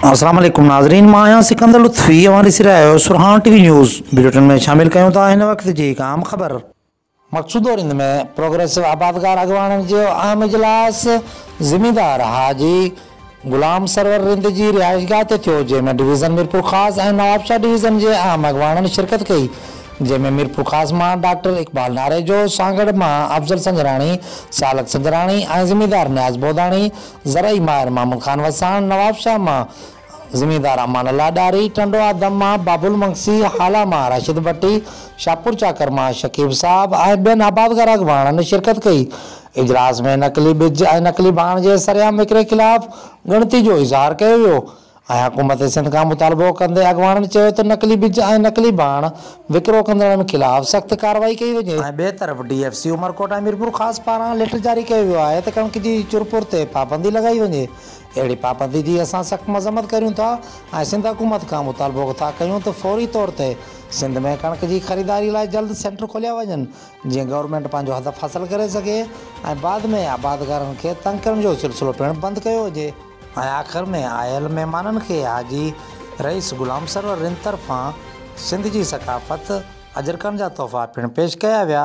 اسلام عليڪم ناظرين مان آهيان سڪندر لطفي اوهان ڏسي رهيا آهيو Sarhaan T V news bulletin ۾ شامل ڪيون ٿا هن وقت جي هڪ اهم خبر مقصودو رند ۾ پروگريسو آبادگار اڳواڻن جو اهم اجلاس زميندار حاجي غلام سرور رند جي رهائشگاهه تي ٿيو، جنهن ۾ ڊويزن ميرپورخاص ۽ نوابشاهه ڊويزن جي اهم اڳواڻن شرڪت ڪئي، جنهن ۾ ميرپورخاص مان ڊاڪٽر اقبال ناريجو، سانگهڙ مان افضل سنجراڻي، سالڪ سنجراڻي ۽ زميندار نياز بوداڻي، زرعي ماهر محمود خان وساڻ، نوابشاهه مان زميندار امان الله ڏاهري، ٽنڊو آدم مان بابل مگسي، هالا مان راشد ڀٽي، شاهپورچاڪر مان شڪيب صاحب ۽ ٻين آبادگار اڳواڻن شرڪت ڪئي، اجلاس ۾ نقلي ٻج ۽ نقلي ڀاڻ جي سرعام وڪري خلاف ڳڻتي جو اظهار ڪيو ويو ۽ حڪومت سنڌ کان مطالبو ڪندي اڳواڻن چيو ته نقلي ٻج ۽ نقلي ڀاڻ وڪرو ڪندڙن خلاف سخت ڪارروائي ڪئي وڃي. ٻئي طرف D F C Umerkot ۽ Mirpurkhas پاران ليٽر جاري ڪيو ويو آهي ته ڪڻڪ جي چرپور تي پابندي لڳائي وڃي، اهڙي پابندي جي اسان سخت مذمت ڪريون ٿا ۽ سنڌ حڪومت کان مطالبو ٿا ڪيون ته فوري طور تي سنڌ ۾ ڪڻڪ جي خريداري لاء جلد سينٽر کوليا وڃن. جيئن گورنمينٽ پنهنجو هدف حاصل ڪري سگهي ۽ بعد ۾ آبادگارن کي تنگ ڪرڻ جو سلسلو پڻ بند ڪيو هجي. ۽ آخر ۾ آيل مهمانن کي حاجي رئيس غلام سرور رند طرفان سنڌ جي ثقافت، اجرڪن جا تحفا پڻ پيش ڪيا ويا.